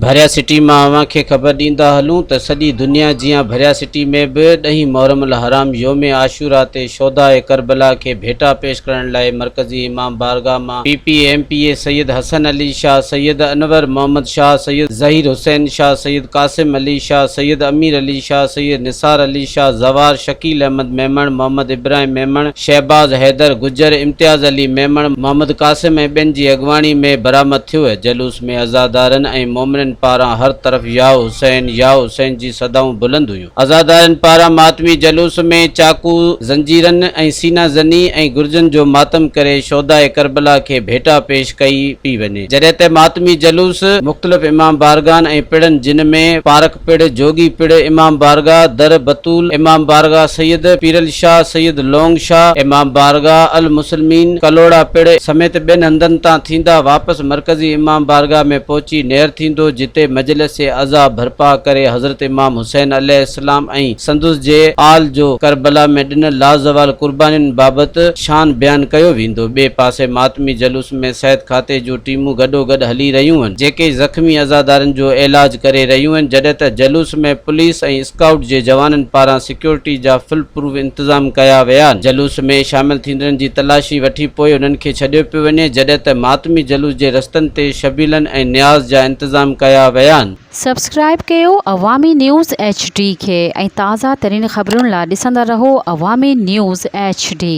ڀريا City مان اوهان کي خبر ڏيندا هلون ته سڄي دنيا جيان ڀريا سٽي ۾ به ڏهين محرم الحرام يوم عاشوراء تي شهداء ڪربلا کي ڀيٽا پيش ڪرڻ لاء مرڪزي امام بارگاهه مان P P M P A Syed Hassan Ali Shah Syed Anwar Muhammad Shah Syed Zaheer Hussain Shah Syed Qasim Ali Shah Syed Amir Ali Shah Syed Nisar Ali Shah Zawar Shakeel Ahmed Memon Muhammad Ibrahim Memon Shahbaz Haider Gujjar Imtiaz Ali Memon Muhammad Qasim ۽ ٻين جي اڳواڻي ۾ برآمد ٿيو هي جلوس ۾ عزادارن ۽ مومنن پاران هر طرف يا حسين يا حسين جي صدائون بلند هيون. عزادارن پاران ماتمي جلوس ۾ چاقو، زنجيرن ۽ سينه زني ۽ گرجن جو ماتم ڪري شهداء ڪربلا کي ڀيٽا پيش ڪئي پئي وڃي. جڏهن ته ماتمي جلوس مختلف امام بارگاهن ۽ پڙن جن ۾ پارڪ، پڙ، جوڳي پڙ، امام بارگاهه، در بتول، امام بارگاهه سيد پيرعلي شاهه، سيد لونگ شاهه، امام بارگاهه المسلمين، ڪلهوڙا پڙ، سميت ٻين هنڌن تان ٿيندا واپس مرڪزي امام بارگاهه ۾ پهچي نير ٿيندو جتي مجلس عزا برپا ڪري حضرت امام حسين عليه السلام ۽ سندس جي آل جو ڪربلا ۾ ڏنل لازوال قربانين بابت شان بيان ڪيو ويندو ٻئي پاسي ماتمي جلوس ۾ صحت کاتي جون ٽيمون گڏوگڏ هلي رهيون هن جيڪي زخمي عزادارن جو عيلاج ڪري رهيون هن جڏهن ته جلوس ۾ پوليس ۽ اسڪائوٽ جي جوانن پاران سيڪيورٽي جا فل پروف انتظام ڪيا ويا هن جلوس ۾ شامل ٿيندڙن جي تلاشي وٺي پوء انهن کي ڇڏيو پيو وڃي جڏهن ته ماتمي جلوس جي رستن تي شبيلن ۽ نياز جا انتظام ڪيا ويا هن. سبسڪرائب ڪيو عوامي نيوز ايڇ ڊي کي ۽ تازه ترين خبرن لا ڏسندا رهو عوامي نيوز ايڇ ڊي.